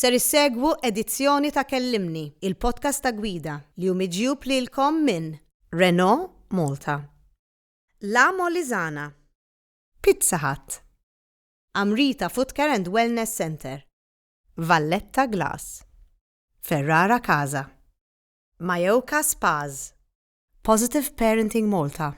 Ser issegwu edizzjoni ta' Kellimni, il-podcast ta' Gwida, li hu miġjub lilkom minn. Renault Malta. La Molisana. Pizza Hut. Amrita Footcare and Wellness Centre. Valletta Glass. Ferrara Casa. Majoka Spas. Positive Parenting Malta.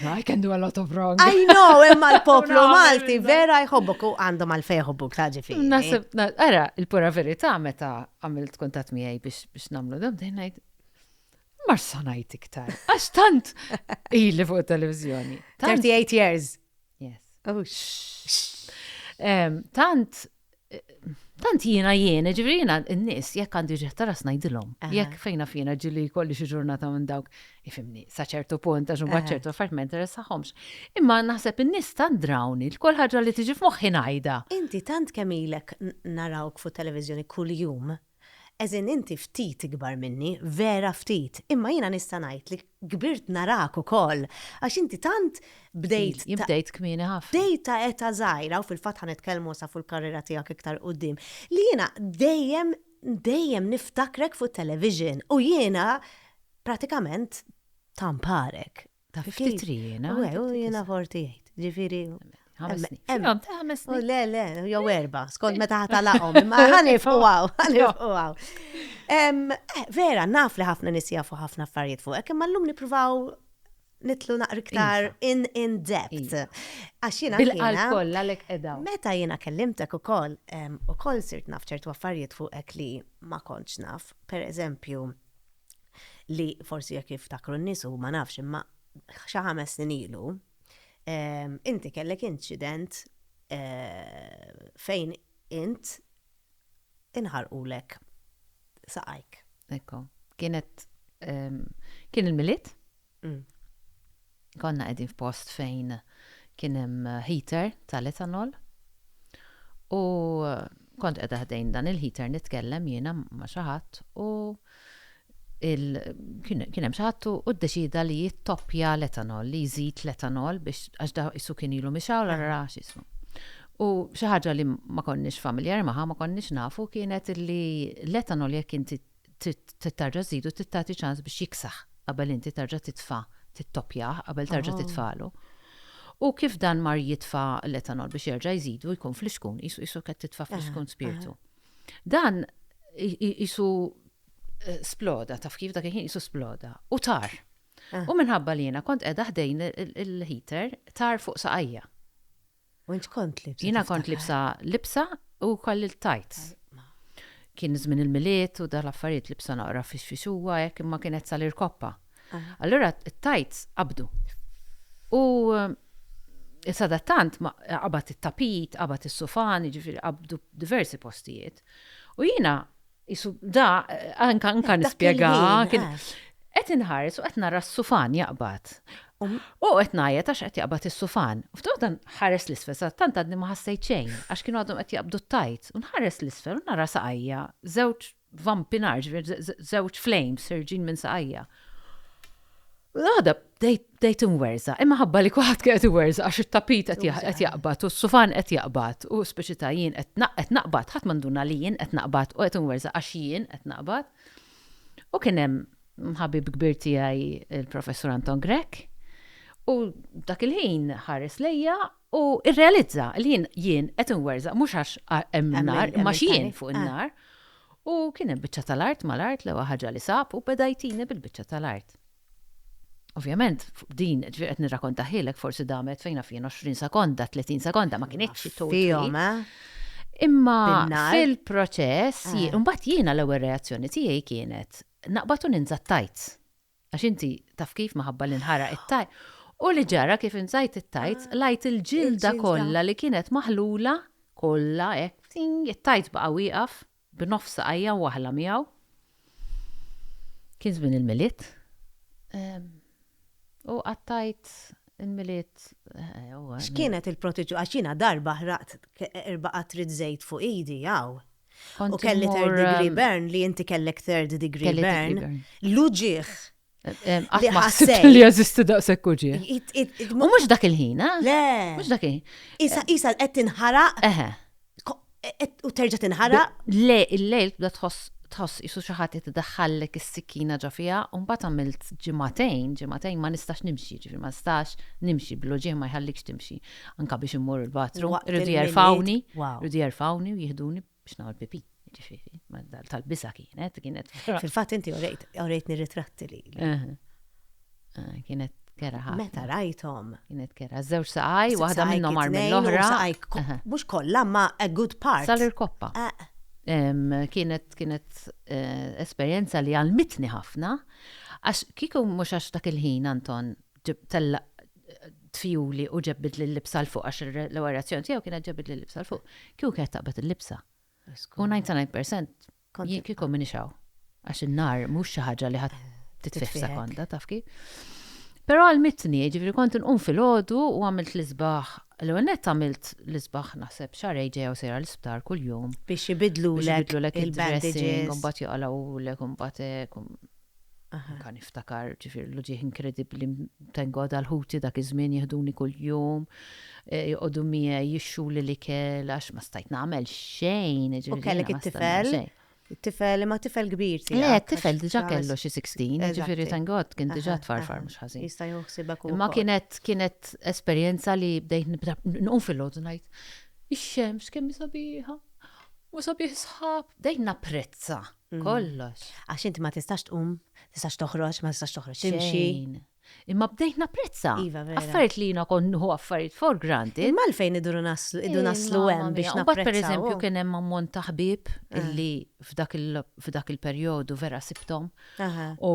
I can do a lot of wrong. I know, imma l-poplu Malti vera jħobbok u għandhom għal fejħobbok ta' ġifi. Nasib, era, il-pura verità meta għamilt kontat miegħi biex namlu dam dejnajt. Mar sanajt iktar. Għax tant ili fuq televizjoni. 38 years. Yes. Oh, tant Tant jiena jiena, ġifri jiena n-nis, jekk għandi ġeħ ta' ras najdilom. Jekk fejna fina ġili kolli xi ġurnata minn dawk, ifimni, sa ċertu punt, għax mbagħad ċertu affarijiet ma interessaħomx. Imma naħseb in-nies tant drawni, l-kol ħaġa li tiġi f'moħħi ngħidha. Inti tant kemm ilek narawk fuq televizjoni kuljum, Għeżin inti ftit ikbar minni, vera ftit, imma jiena nista' ngħid li kbirt narak ukoll, għax inti tant bdejt ta'. Jien bdejt kmieni ħafna. Bdejt ta' età żgħira, u fil-fatt ħa nitkellmu issa fuq il-karriera tiegħek iktar quddiem, li jiena dejjem, dejjem niftakrek fuq it-television u jiena pratikament thamparek. Ta' fi ftit rijina. U għu jina forti jgħid, ġifiri. Ħames snin. Le, le, jow erba, skont meta ħata laqom, ma ħanif u għaw, ħanif u għaw. Vera, naf li ħafna nisija fuq ħafna affarijiet fuq, kemm l-lum nipruvaw nitlu naqri ktar iva. in in depth. Iva. Għax jina. Bil-qalb kollha lek edaw. Meta jina kellimtek ukoll, ukoll sirt naf ċertu affarijiet fuq ek li ma kontx naf, per eżempju, li forsi jekk jiftakru n-nies u ma nafx imma xi ħames snin ilu, inti kellek inċident fejn int inħarqulek saqajk. Ekku, kienet kien il-Milied Konna qegħdin f'post fejn kien hemm heater tal-etanol u kont qiegħda ħdejn dan il-heater nitkellem jiena ma' xi ħadd u kien hemm xi ħadd u ddeċida li jittoppja l-etanol, li jżid l-etanol biex għax da isu kien ilu mixaw l ra x'ismu. U xi ħaġa li ma konniex familjari magħha, ma konniex nafu kienet li l-etanol jekk inti trid terġa' żżidu trid tagħti ċans biex jiksaħ qabel inti terġa' titfa' tittoppjah qabel terġa' titfagħlu. U kif dan mar jitfa' l-etanol biex jerġa' jżidu jkun fl-ixkun, qisu qisu qed titfa' fl-ixkun spirtu. Dan qisu sploda, taf kif dak il-ħin qisu sploda u tar. U minħabba li jiena kont qiegħda ħdejn il-heater tar fuq saqajja. U int kont libsa? Jiena kont libsa libsa u kolli l-tajts. Kien żmien il-milied u dal affarijiet libsa naqra fix fix huwa hekk imma kienet sal-irkoppa. Allura t-tajts qabdu. U eh, sadattant qabad it-tapit, qabad is-sufan, jiġifieri qabdu diversi postijiet. U jiena Isu da anka anka nispjega kien qed inħares u qed nara s-sufan jaqbad. Um. U qed ngħajjed għax qed jaqbad is-sufan. U ftit dan ħares l-isfel sa tant għadni ma ħassejt xejn għax kienu għadhom qed jaqbdu t-tajt. U nħares l-isfel u nara saqajja żewġ vampinar, żewġ flames ħerġin minn saqajja. U għada bdejt inwerza, imma ħabba li kulħadd kien qed iwerza għax it-tapit qed jaqbad u s-sufan qed jaqbad u speċi ta' jien qed naqbad, ħadd ma nduna li jien qed naqbad u qed inwerza għax jien qed naqbad. U kien hemm ħabib kbir tiegħi il-Professur Anton Grech u dak il-ħin ħares lejja u irrealizza li jien jien qed inwerza mhux għax hemm nar imma jien fuq in-nar. U kien hemm biċċa tal-art mal-art l-ewwel ħaġa li sab u beda jtini bil-biċċa tal-art. Ovvjament, din ġifier qed nirrakontahielek forsi damet fejn naf jien 20 sekonda, 30 sekonda ma kinitx fihom, eh? Imma fil-proċess, eh. imbagħad jiena l-ewwel reazzjoni tiegħi kienet naqbad u ninża' t-tajt. Għax inti taf kif maħabba li nħaraq it-tajt. U li ġara kif inżajt it-tajt, ah, lajt il-ġilda kollha li kienet maħlula kollha hekk it-tajt baqa' wieqaf B'nofs saqajja waħla miegħu. Kien żmien il-Milied. U qattajt il-Milied. X'kienet il-proċedura? Għax jiena darba ħraqt erba' qatrid żejt fuq idi hawn. U kelli third degree burn li inti kellek third degree burn. L-uġigħ Għat ma ħsibt li jazisti daqshekk uġi. U mhux dak il-ħin, eh? Le. Mhux dak il-ħin. Isa isa qed tinħaraq. Eħe. U terġa' tinħaraq. Le, il-lejl bda tħoss tħoss isu xi ħadd qed idaħħallek is-sikkina ġo fiha u mbagħad għamilt ġimagħtejn, ġimagħtejn ma nistax nimxi, ġifieri ma nistax nimxi bil-loġieħ ma jħallikx timxi. Anka biex immur il-bathroom, rridu jerfawni, rridu jerfawni u jihduni biex nagħmel pipi, ġifieri, tal-bisa kienet, kienet. Fil-fatt inti orejt, orejtni ritratti li. Eh, eh, kienet kera ħafna. Meta rajthom. Kienet kera, żewġ saqaj, waħda minnhom għar mill-oħra. Mhux kollha ma a good part. Salir koppa. Eh. Kienet kienet esperjenza li għalmitni ħafna, għax kieku mhux għax dak il-ħin Anton tellaq tfjuli u ġebbid li libsa l-fuq, għax l-ewwel reazzjoni tiegħu kienet ġebbid li libsa l-fuq. Kieku kienet taqbad il-libsa. U 99% jien kieku minix hawn. Għax in-nar mhux xi ħaġa li ħadd titfih sekonda, taf kif. Però għalmitni, ġifieri kont inqum filgħodu u għamilt l-isbaħ. L-ewwel nett għamilt l-isbaħ naħseb xahar ġejja u sejra l-isptar kuljum. Biex ibidlu l-ek il-bandages. Imbagħad joqgħu l-ek imbagħad Anka niftakar, ġifieri l-uġigħ inkredibbli, thank God għal ħuti dak iż-żmien jiħduni kuljum, joqogħdu miegħi, jixxuli l-ikel għax ma stajt nagħmel xejn, ġifieri. U kellek it-tifel? Tifel, imma tifel kbir tiegħek. Le, tifel diġà kellu xi 16, ġifieri thank God kien diġà tfarfar mhux ħażin. Jista' joħsibek ukoll. Imma kienet kienet esperjenza li bdejt nibda nqum fil-logħdu ngħid, ix-xemx kemm hi sabiħa, u sabiħ is-sħab, bdejt napprezza kollox. Għax inti ma tistax tqum, tistax toħroġ, ma tistax toħroġ timxi. Xejn. Imma bdejt napprezza. Iva, vera. Affarijiet li jiena kont nieħu affarijiet for granted. Imma għalfejn iduru naslu, idu naslu hemm biex napprezzaw. Imbagħad pereżempju kien hemm ammont ta' ħbieb illi f'dak il-perjodu vera sibthom u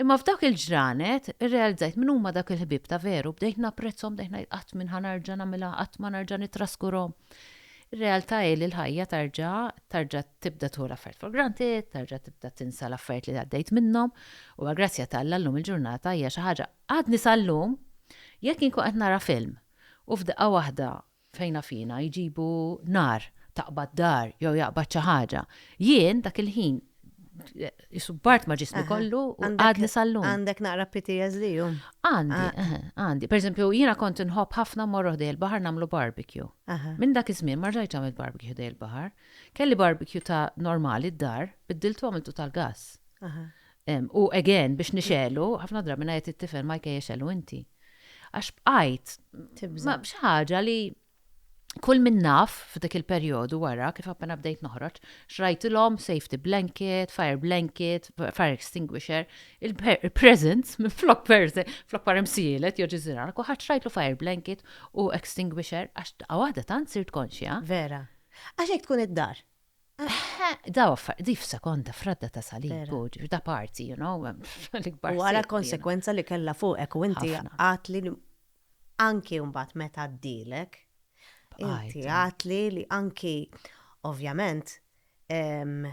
Imma f'dak il-ġranet, irrealizzajt min huma dak il-ħbieb ta' veru, bdejt napprezzhom, bdejt ngħid qatt min ħa narġa' nagħmilha, qatt ma narġa' nittraskurhom. Ir-realtà hi li l-ħajja tarġa' tarġa' tibda tieħu l-affarijiet for granted, tarġa' tibda tinsa l-affarijiet li għaddejt minnhom, u għall-grazzja ta' Alla llum il-ġurnata hija xi ħaġa, għadni sal-lum jekk inkun qed nara film u f'daqqa waħda Fejna fina, jġibu nar, taqbad dar jew jaqbad xi ħaġa. Jien, dak il-ħin, qisu bart ma' ġismi kollu u għadni sal-lum. Għandek naqra PTSD, hu? Għandi, għandi. Per eżempju, jiena kont inħobb ħafna mmorru ħdejn il-baħar nagħmlu barbecue. Minn dak iż-żmien ma rġajtx għamilt barbecue ħdejn il-baħar. Kelli barbecue ta' normali d-dar, biddiltu għamiltu tal-gass. U again, biex nixegħlu, ħafna drabi ngħid it-tifel ma jkejjel xegħlu inti. Għax bqajt ma b'xi ħaġa li kull min naf f'dik il-perjodu wara kif appena bdejt noħroġ, xrajtilhom safety blanket, fire blanket, fire extinguisher, il-present, flok present, flok parem sielet, joġi zirar, kuħat xrajtlu fire blanket u extinguisher, għax għawada tant sirt konxja. Vera. Għax hekk tkun id-dar. Eħe, daw affar, di f'sekonda fradda ta' salib, Vera. u ġifir da parti, you know, l-ikbar. U ara sitt, konsekwenza li kellha fuqek u inti Ħafna. għadt li anki mbagħad meta għaddielek, Bqajt, inti eh. għadt li li anki ovvjament ehm,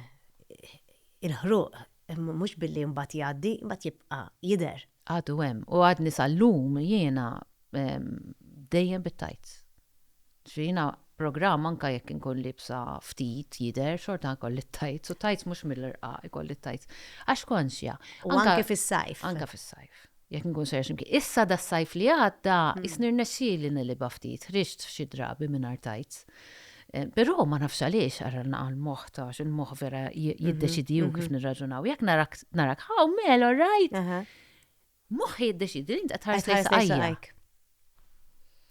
il-ħruq mhux billi mbagħad jgħaddi, mbagħad jibqa' jidher. Għadu hemm u għadni sal-lum jiena dejjem bit-tights. Ġifieri jiena programm anke jekk inkun liebsa ftit jidher xorta jkolli t-tights u tights mhux mill-irqaq ikolli t-tights. Għax konxja. U anke fis-sajf. Anke fis-sajf. Jekk inkun sejra xi mkien. Issa das-sajf li għadda jisni rnexxieli nilibha ftit, ħriġt xi drabi mingħajr tights. Però ma nafx għaliex għarralna għal moħħ ta' il-moħħ vera mhm, jiddeċidi u mhm. kif nirraġunaw. Jekk narak narak hawn mel all right. Moħħ jiddeċidi li inta tħares lejn saqajk.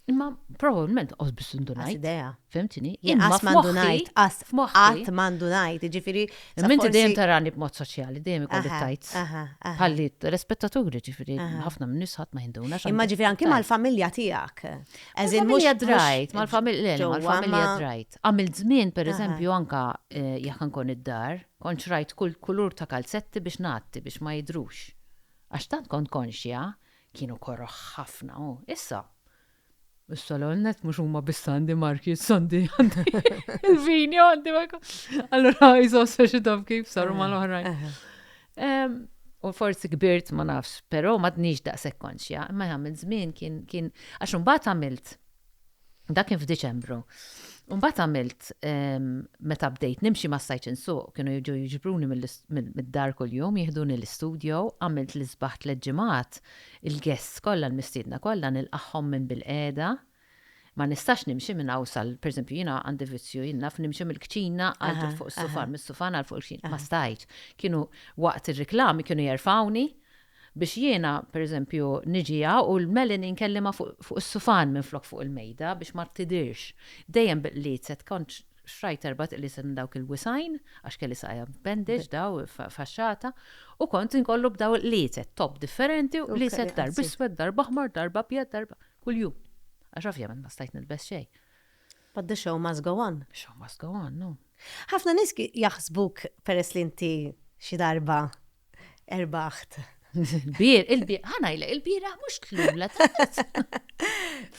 Imma probabbilment qos biss indunajt. Idea. Fimtini? Imma mandunajt, qas qatt mandunajt, ġifieri. Imma inti dejjem tarani b'mod soċjali, dejjem ikolli tajt. Ħalli rispettaturi ġifieri ħafna minn nisħat ma jinduna. Imma ġifieri anki mal-familja tiegħek. As in mhux Mal-familja Dryte, mal-familja, le, le, ġewwa, mal-familja ma- Dryte. Għamilt żmien, per Aha. eżempju, anka eh, jekk inkun id-dar, kont xrajt kull kulur ta' kalzetti biex ngħatti, biex ma jidhrux. Għax tant kont konxja, kienu koroh ħafna, u issa. Issa l net mhux huma biss għandi marki, issa għandi għandi il-vinja għandi ma jkun. Allura jżossa xi taf kif saru mal-oħrajn. Aha. Ehm, u forsi kbirt ma nafx, però m'għadnix daqshekk konxja, imma jagħmel żmien kien kien għax imbagħad għamilt dak kien f'Diċembru. Mbagħad għamilt ehm, meta bdejt nimxi ma stajtx insuq, kienu jiġu jiġbruni mid-dar kuljum, jihduni l-istudio, għamilt l-isbaħ tliet ġimgħat, il-guests kollha l-mistiedna kollha nilqagħhom minn bil-qiegħda, Ma nistax nimxi minn hawn sal, per eżempju, jiena għandi vizzju, jien naf nimxi mill-kċina għal fuq is-sufan, mis-sufan għal fuq il-kċina. Ma stajtx. Kienu waqt ir-riklami kienu jerfgħuni biex jiena, per eżempju, niġi hawn u l-melanin kelli ma fuq is-sufan minflok fuq il-mejda biex ma tidhirx. Dejjem b'qliezet, kont xtrajt erbat qliezet minn dawk il-wisgħin, għax kelli saqajja b'bandage daw faxxata, u kont inkollu b'daw il-qliezet, topp differenti u qliezet darba iswed, darba aħmar, darba abjad, darba. Kuljum. Għax ovvjament ma stajt nilbes xejn. But the show must go on. The show must go on, no. Ħafna nies jaħsbuk peress li inti xi darba erbaħt. Bir, il-bir, ħanajlek, il-bira mhux tlum la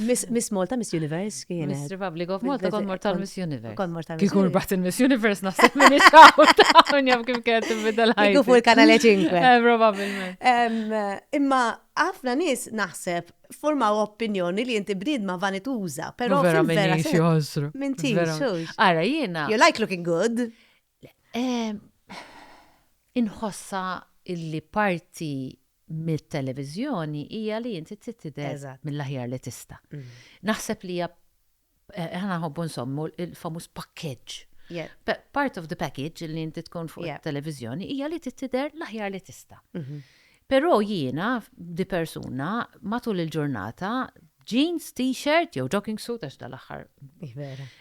Miss Malta, Miss Universe kienet. Miss Republic of Malta, kon mortal Miss Universe. Kon mortal Miss Universe. baħt il-Miss Universe naħseb minn ix-xaw, njaf kif kienet tibda l-ħajja. Kiku fuq il-kanale 5. Eh, Probabilment. Imma ħafna nies naħseb Formaw opinjoni li inti bniedma vanituża, però vera vera se joħosru. Minti, Ara jiena. You like looking good. Inħossa illi parti mit-televiżjoni hija li inti titidher mill-aħjar li tista'. Mm. Naħseb li hija Eh, aħna nħobbu nsommu il-famuż pakkeġġ. Part of the package li inti tkun fuq il-televizjoni hija li tittider l-aħjar li tista'. Mhm. Però jiena di persuna matul il-ġurnata jeans, t-shirt, jew jogging suit, għax dal-axħar.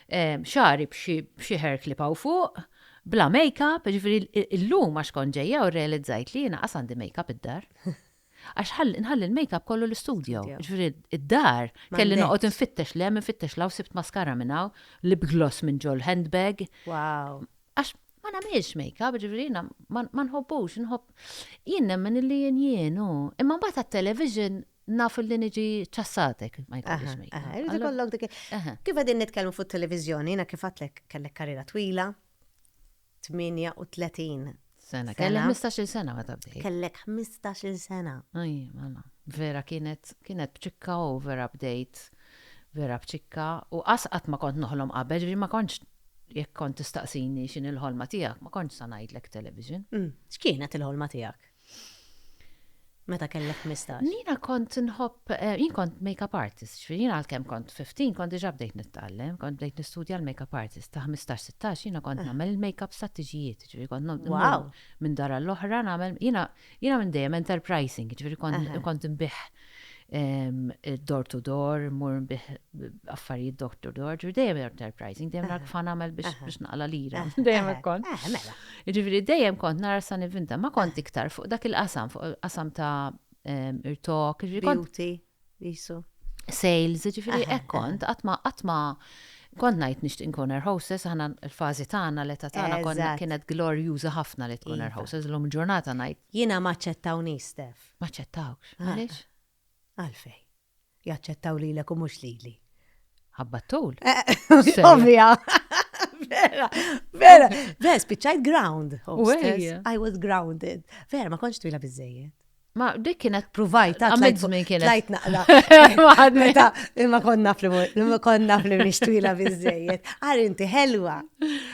Eh, xari bxie hair clip għaw fuq, bla make-up, ġifiri l-lum għax konġeja u realizzajt li jina għasandi make-up id-dar. Għax ħalli nħalli l-makeup kollu l-istudio. Ġifieri d-dar kelli noqgħod infittex l-hemm infittex l-hawn sibt maskara minn hawn, lip gloss minn ġol handbag. Wow. Għax ma nagħmilx makeup, ġifieri jiena ma nħobbux, inħobb. Jien nemmen illi jien jien hu. Imma mbagħad għat-television naf illi niġi ċassatek ma jkollix makeup. Irid ikollok dik. Kif qegħdin nitkellmu fuq televiżjoni, jiena kif għadtlek kellek karriera twila. 38 sena. Kellek 15-il sena meta bdejt. Kellek 15-il sena. Aj, mela. Vera kienet kienet bċikka u vera bdejt vera bċikka u qasqat ma kont noħlom qabel, ġifieri ma kontx jekk kont tistaqsini x'in il-ħolma tiegħek, ma kontx sa ngħidlek television. Mm. X'kienet il-ħolma tiegħek? Meta kellek ħmistax? Jiena kont nħobb, eh, jien kont makeup artist, ġifieri jiena għalkemm kont 15 kont diġà bdejt nittgħallem, kont bdejt nistudja l-makeup artist ta' 15-16 jiena kont ah. nagħmel il-makeup sa tiġijiet, ġifieri kont nagħmel minn dara l-oħra nagħmel jiena jiena minn dejjem enterprising, ġifieri kont nbih door to door, mur bih affarijiet door to door, ġifieri dejjem enterprising, dejjem rak fan għamel biex naqla lira, dejjem kont. Mela. Ġifieri dejjem kont nara sa nivinta, ma kont iktar fuq dak il-qasam, fuq il-qasam ta' irtok, ġifieri kont. jisu. Sales, ġifieri hekk kont, għatma għatma kont ngħid nixtieq nkun air hostess, aħna l-fażi tagħna l-età tagħna konna kienet glorjuża ħafna li tkun air hostess, l-lum ġurnata ngħid. Jiena ma ċettawni Stef. M'aċċettawkx. Għaliex? Għalfejn? Jaċċettaw lilek u mhux lili. Ħabba tul. Ovvja. Vera, vera. Vera, spiċċajt ground. I was grounded. Vera, ma konċ twila biżejjed. Ma dik kienet provajt ta' għamil żmien kienet. Lajt naqla. Meta imma konna fl imma konna fl twila biżejjed. Għar inti ħelwa.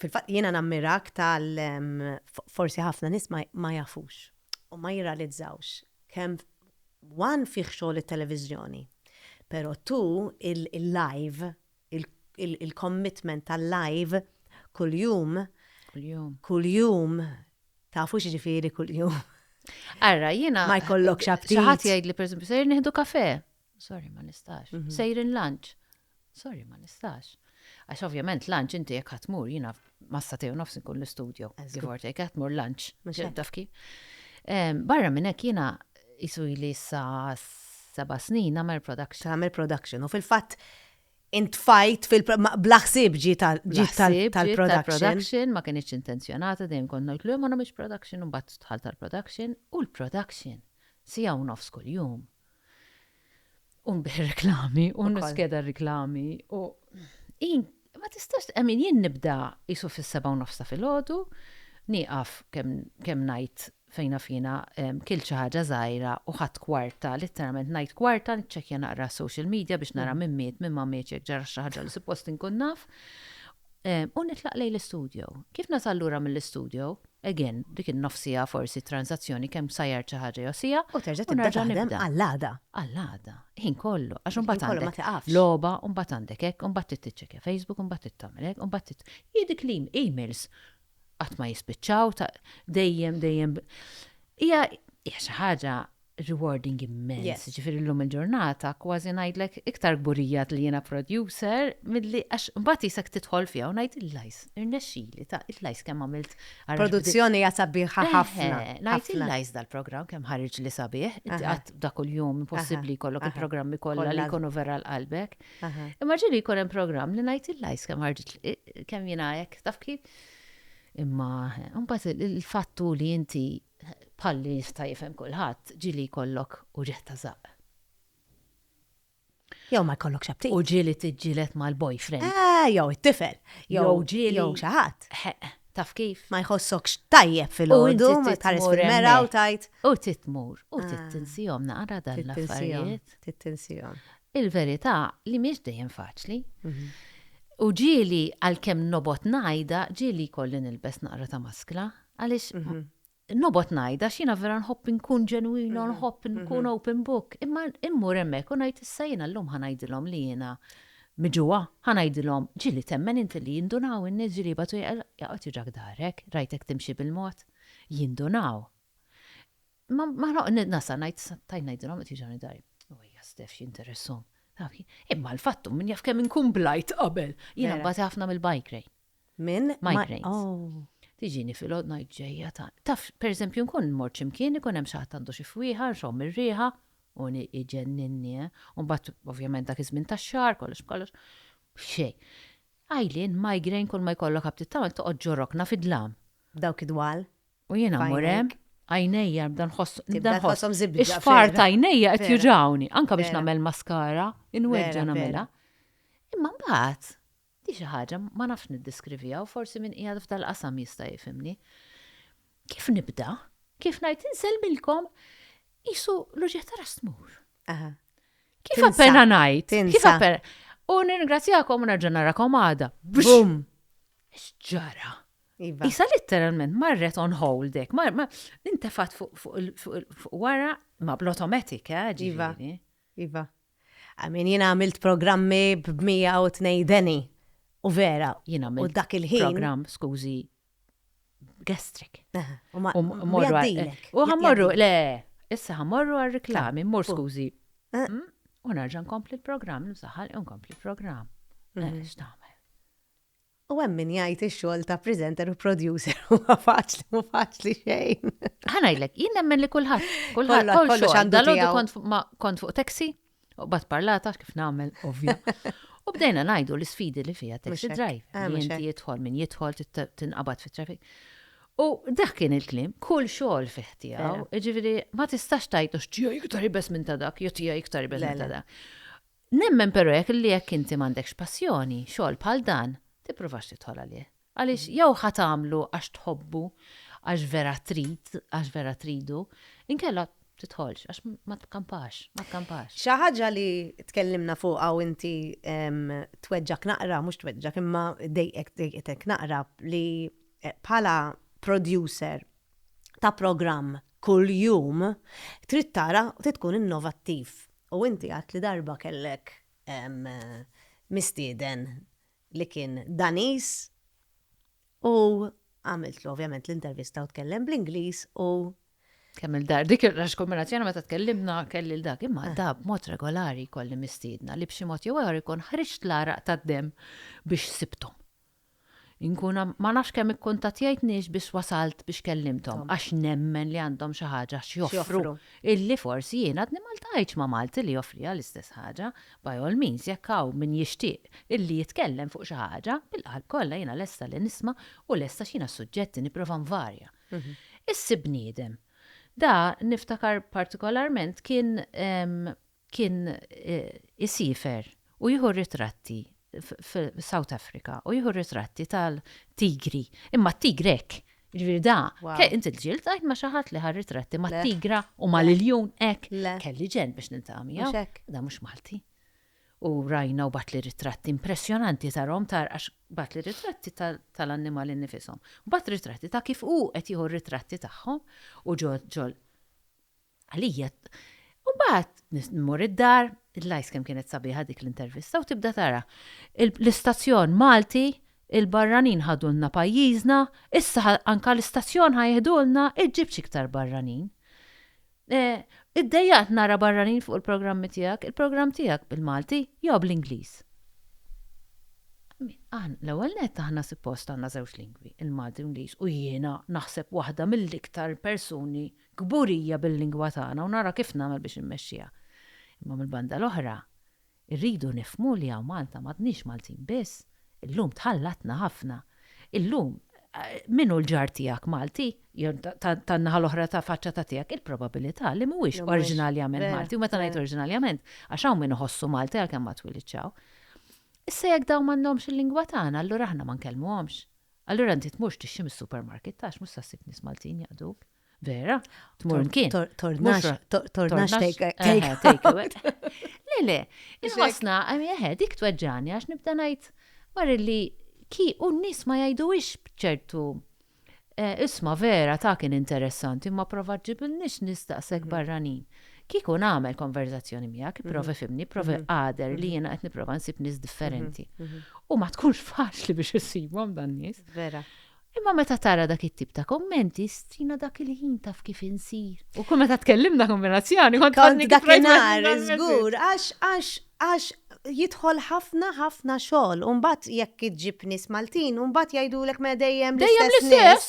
Fil-fatt jiena nammirak tal forsi ħafna nies ma jafux u ma jirrealizzawx kemm one fih xogħol it-televiżjoni, però two il-live, il-commitment tal-live kuljum, kuljum, tafu x'jiġifieri kuljum? Ara jiena. Ma jkollokx apptit. Xi ħadd jgħidli pereżempju sejjer nieħdu kafè. Sorry, ma nistax. Mhm. Sejrin lunch. Sorry, ma nistax. Għax ovvjament lunch inti jekk ħatmur jiena massa tew nofs nkun l-istudju. Give or take, ħatmur lunch. Taf kif? Barra minn hekk jiena jisu li sa seba' snin nagħmel production. Nagħmel production u fil-fatt intfajt fil-blaħsib ġi tal-production. Ma kienx intenzjonata dejjem kont ngħid li ma nagħmilx production u mbagħad tħall tal-production u l-production sija u nofs kuljum. U nbih reklami, u niskeda r-reklami, u ma tistax, għamin jien nibda jisu fis-seba u nofs ta' filgħodu, nieqaf kemm ngħid fejna fina kilt xi ħaġa żgħira u ħadt kwarta, litteralment ngħid kwarta, niċċekkja naqra s-social media biex nara min miet, min ma mietx, jekk ġara xi ħaġa li suppost inkun naf, U nitlaq lejn l-istudjo. Kif nasal lura mill-istudjo, again, dik in-nofs siegħa forsi transazzjoni kemm sajjart xi ħaġa jew siegħa. U terġa' tibda taħdem għall-għada. Għall-għada, ħin kollu, għax imbagħad għandek. Ħin kollu ma tiqafx. Logħba, u mbagħad għandek hekk, u mbagħad trid tiċċekkja Facebook, u mbagħad trid tagħmel hekk, u mbagħad trid. Hi dik l-emails qatt ma jispiċċaw, dejjem, dejjem. Hija xi ħaġa rewarding immens. Jiġifieri llum il-ġurnata kważi ngħidlek iktar kburija li jiena producer milli għax imbagħad qisek tidħol fiha u ngħid illajs irnexxieli ta' illajs kemm għamilt Produzzjoni hija sabiħa ħafna. Eħe, ngħid illajs dal-programm kemm ħariġli sabiħ, inti qatt da kuljum impossibbli jkollok il-programmi kollha li jkunu vera għal qalbek. Imma ġieli jkun hemm programm li ngħid illajs kemm ħarġitli kemm jiena hekk taf kif. Imma imbagħad il-fatt hu li inti bħalli jista' jifhem kulħadd, ġieli jkollok uġigħ ta' żaqq. Jew ma jkollokx aptit. U ġieli tiġġieled mal-boyfriend. Eh, jew it-tifel. Jew ġieli. Jew xi ħadd. Taf kif? Ma jħossokx tajjeb fil-għodu, ma tħares fil-mera u tajt. U titmur, u tittinsihom naqra dan l-affarijiet. Tittinsihom. Il-verità li mhix dejjem faċli. Mhm. U ġieli għalkemm nobgħod ngħidha, ġieli jkolli nilbes naqra ta' maskla. Għaliex nobgħod ngħid għax jiena vera nħobb inkun ġenwina u nħobb inkun open book, imma mmur hemmhekk u ngħid issa jiena llum ħa ngħidilhom li jiena miġugħa, ħa ngħidilhom ġieli temmen inti li jindunaw in-nies ġieli jibgħatu jaqgħod jiġrak dahrek, rajtek timxi bil-mod? Jindunaw. Imma ma noqgħod nasal ngħid issa tajt ngħidilhom qed jiġrawni dari. U ejja Stef x'jinteressahom. Imma l-fatt hu min jaf kemm inkun blajt qabel. Jiena nbati ħafna mill-bike rain. minn migraines. Tiġini filgħodu ngħid ġejja ta' taf pereżempju nkun immur xi mkien ikun hemm xi ħadd għandu xi fwieħa nxomm ir-riħa u iġenninni eh. U mbagħad ovvjament dak iż-żmien tax-xahar kollox b'kollox xejn. Għajlien, migraine kulma jkollok ħabtiet tagħmel toqgħod ġo rokna fid-dlam. Dawk id-dwal. U jiena mmur hemm, għajnejja nibda nħoss, nibda nħoss ix-xfar ta' għajnejja qed juġgħuni, anke biex nagħmel maskara, inweġġa' nagħmilha. Imma mbagħad Hi xi ħaġa, ma nafx niddeskriviha u forsi min qiegħed f'dal-qasam jista' jifhimni. Kif nibda? Kif ngħid, insellmilkom, qisu l-uġigħ ta' ras tmur. Aha. Kif Tinsa. appena ngħid? Kif Tinsa. appena? U nirringrazzjakom u nerġa' narakom għada. Bum! X'ġara? Iva. Isa litteralment marret on hold hekk, mar ma intefat fuq fuq il- fuq il- fuq wara ma bl-automatic, eh, Iva. ġifieri. Iva. I mean, jiena għamilt programmi b'mija u tnej deni. U vera. Jiena għamilt. U dak il-ħin. Programm, skużi, gastric. U ma. U ħammorru, le, issa ħammorru għal reklami, mor skużi. Eh. Mm? U narġa' nkompli l-programm, nsaħħal nkompli l-programm. Eh, mhm. X'tagħmel? U hemm min jgħid ix-xogħol ta' presenter u producer huwa faċli mhu faċli xejn. Ħa ngħidlek, jien nemmen li kulħadd, kulħadd kollu xandu tiegħu. Kont ma kont fuq taxi, u bat parlata kif nagħmel ovvja. U bdejna ngħidu l-isfidi li fiha taxi drive. Ah, inti jidħol min jidħol tinqabad fit-traffic. U dak kien il-klim, kull xogħol fih tiegħu, jiġifieri ma tistax tajtu x'tiegħi iktar ibes minn ta' dak, jew tiegħi iktar ibes minn ta' dak. Nemmen però jekk li jekk inti m'għandekx passjoni, xogħol bħal dan, tippruvax tidħol għalih. Għaliex jew ħa tagħmlu għax tħobbu, għax vera trid, għax vera tridu, inkella tidħolx għax ma tkampax, ma tkampax. Xi ħaġa li tkellimna fuqha u inti tweġġgħek naqra, mhux tweġġgħek imma dejqek dejqetek naqra li bħala producer ta' programm kuljum trid tara trid tkun innovattiv u inti għidt li darba kellek mistieden li kien Daniż u għamiltlu ovvjament l-intervista u tkellem bl-Ingliż u Kemm il-dar, dik il-rax kombinazzjoni meta tkellimna kelli l-dak, imma eh. da b'mod regolari kolli mistiedna li b'xi mod jew ieħor ikun ħriġt l-għaraq tad-demm biex sibthom. Inkun ma nafx kemm ikkuntattjajt nies biss wasalt biex kellimthom għax nemmen li għandhom xi ħaġa x'joffru illi forsi jien għadni ma ltqajtx ma' Malti li joffriha l-istess ħaġa. By all means jekk hawn min jixtieq illi jitkellem fuq xi ħaġa, bil-qalb kollha jiena lesta li nisma' u lest għax jiena s-suġġetti nipprova nvarja. Issib bniedem. Da niftakar partikolarment kien kien isiefer u jieħu ritratti f'South Africa u jieħu ritratti tal-tigri. Imma t-tigri hekk, jiġifieri da, inti l-ġiel tqajt ma' xi ħadd li ħa ritratti mat-tigra u mal-iljun hekk. Kelli ġenn biex niltaqa' miegħu. Da mhux Malti. U rajna u bagħatli ritratti impressjonanti tarahom tara għax bagħatli ritratti tal-annimali nnifishom. Bagħat ritratti ta' kif hu qed jieħu ritratti tagħhom u ġo Għalija, u bat nmur id-dar, il-lajs kemm kienet sabiħa dik l-intervista u tibda tara. L-istazzjon Malti, il-barranin ħadulna pajjiżna, issa anka l-istazzjon ħa jiħdulna, iġġib x'iktar barranin. Iddejjaqt nara barranin fuq il-programmi tiegħek, il-programm tiegħek bil-Malti jew bl-Ingliż. L-ewwel nett aħna suppost għandna żewġ lingwi, il-Malti u l-Ingliż, u jiena naħseb waħda mill-iktar persuni kburija bil-lingwa tagħna u nara kif nagħmel biex immexxiha. Imma mill-banda l-oħra, irridu nifhmu li hawn Malta m'għadniex Maltin biss, illum tħallatna ħafna. Illum, min hu l-ġar tiegħek Malti, jew tan-naħa l-oħra ta' faċċa ta' tiegħek, il-probabilità li mhuwiex oriġinarjament Malti, u meta ngħid oriġinarjament, għax hawn min iħossu Malti għalkemm ma twilidx hawn. Issa jekk dawn m'għandhomx il-lingwa tagħna, allura aħna ma nkellmuhomx. Allura inti tmurx tixtri mis-supermarket, għax mhux se ssib nies Maltin jaqduk. Vera? Tmur mkien. Tornax, tornax takeaway. Le, le, il-ħosna, għamieħe, dik tweġġani għax nibda ngħid mar li ki u n-nies ma jajdu ix bċertu. Eh, isma vera ta' kien interessanti, ma prova ġibin nix nistaqsek mhm. barranin. Kiku nagħmel konverzazzjoni miegħek, mhm. prova fimni, prova mhm. għader li jiena qed nipprova nsib nies differenti. U ma tkunx faċli biex issibhom dan nies. Vera. Imma meta tara dak it-tip ta' kummenti, strina dak il-ħin taf kif insir. U kull meta tkellimna kont mirazzjani, kont kont dak il-nar, żgur, għax għax għax jidħol ħafna ħafna xogħol. U mbagħad jekk iġġib nies Maltin, u mbagħad jgħidulek ma dejjem l-istess nies.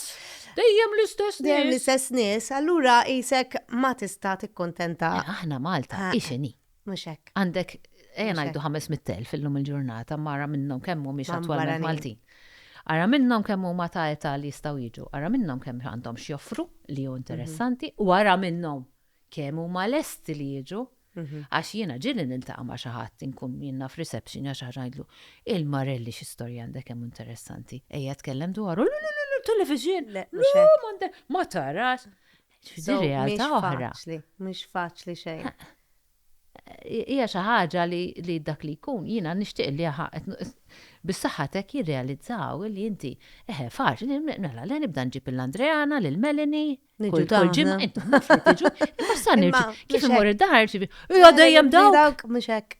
Dejjem l-istess nies. Dejjem l-istess nies, allura isek ma tista' tikkuntenta. Aħna Malta, ixini. Mhux hekk. Għandek, ejja ngħidu 500,000 illum il-ġurnata, ma ara minnhom kemm mhumiex attwalment Maltin. Ara minnhom kemm huma ta' età li jistgħu jiġu, ara minnhom kemm għandhom x'joffru li hu interessanti u ara minnhom kemm huma lesti li jiġu. Għax jiena ġieli niltaqa' ma' xi ħadd inkun jien naf reception jew xi ħaġa ngħidlu, Il-Marelli xi storja għandek kemm hu interessanti, ejja tkellem dwaru, Lulululu, television, le mhux hekk, ma tarax. So, realtà oħra. Mhux faċli xejn. Hija xi ħaġa li dak li jkun jiena nixtieq li bis-saħħatek jirrealizzaw li inti eħe faċli mela le nibda nġib il-Andreana lil Melanie. Niġu dawn. Tiġu, imma sa nirġi. Kif imur id-dar ġibi. Hija dejjem dawk. Mhux hekk.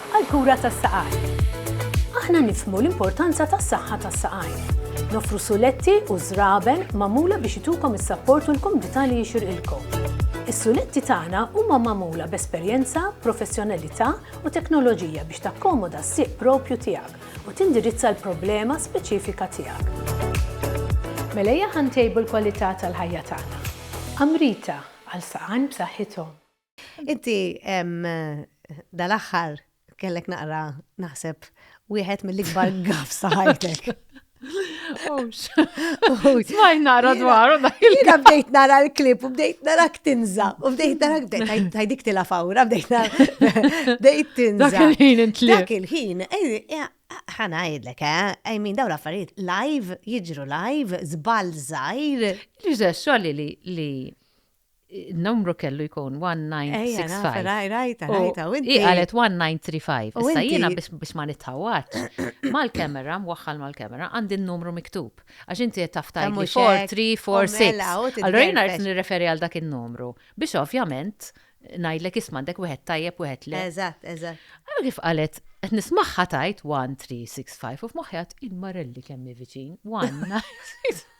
għall-kura tas-saqajn. Aħna nifhmu l-importanza tas-saħħa tas-saqajn. Noffru suletti u żraben magħmula biex itukom is-sapport u l-kumdità li jixirqilkom. Is-suletti tagħna huma magħmula b'esperjenza, professjonalità u teknoloġija biex takkomoda s-sieq proprju tiegħek u tindirizza l-problema speċifika tiegħek. Mela ejja ħa ntejbu l-kwalità tal-ħajja tagħna. Amrita, għal saqajn b'saħħithom. Inti dal-aħħar kellek naqra naħseb wieħed mill-ikbar gaf saħajtek. Smaj nara dwaru dak il Jina bdejt nara l-klip u bdejt nara tinza. U bdejt nara bdejt tajdik tila fawra, bdejt nara bdejt tinza. Dak il-ħin intli. Dak il-ħin, ħana jidlek, eh? I mean, daw l-affarijiet live, jiġru live, zbal zaħir. Li ġessu li li numru kellu jkun 1965. Rajta, rajta, u inti. Hi qalet 1935. Issa jiena biex ma nitħawatx. Mal-kamera, mwaħħal mal-kamera, għandi n-numru miktub. Għax inti qed taf tajli 4346. Allora jiena qed nirreferi għal dak in-numru. Biex ovvjament ngħidlek isma' għandek wieħed tajjeb wieħed le. Eżatt, eżatt. Allora kif qalet qed nismagħha tajt 1365 u f'moħħi għad il-marelli kemm viċin 1965.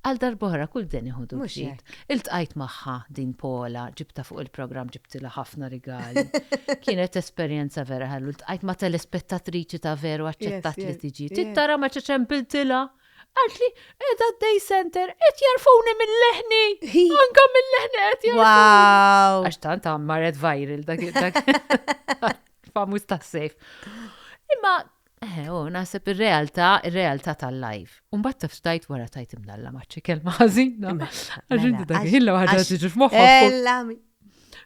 Għal darb'oħra kull deni ħudu Mhux b'xit. hekk. Iltqajt magħha din Paula, ġibtha fuq il-programm ġibtilha ħafna rigali. Kienet esperjenza vera ħelu. Iltqajt ma' telespettatriċi ta' veru aċċettat Yes, li yes, tiġi. yes. Trid tara meta ċempiltilha. Qaltli qiegħda d-day center qed jarfuni mil-leħni! Hi! Anka mil-leħni qed jarfuni! Wow! Għax tant għam marret viral dak dak famuż tas-sejf. Imma Eħe, oh, naħseb ir-realtà, ir-realtà tal-live. U mbagħad taf xtajt wara tajt imdalla maċċi kelma ħażina. Mela, Għax inti mela, dak għax- ħilla waħda għax- tiġi f'moħħok. tkun- Ella mi-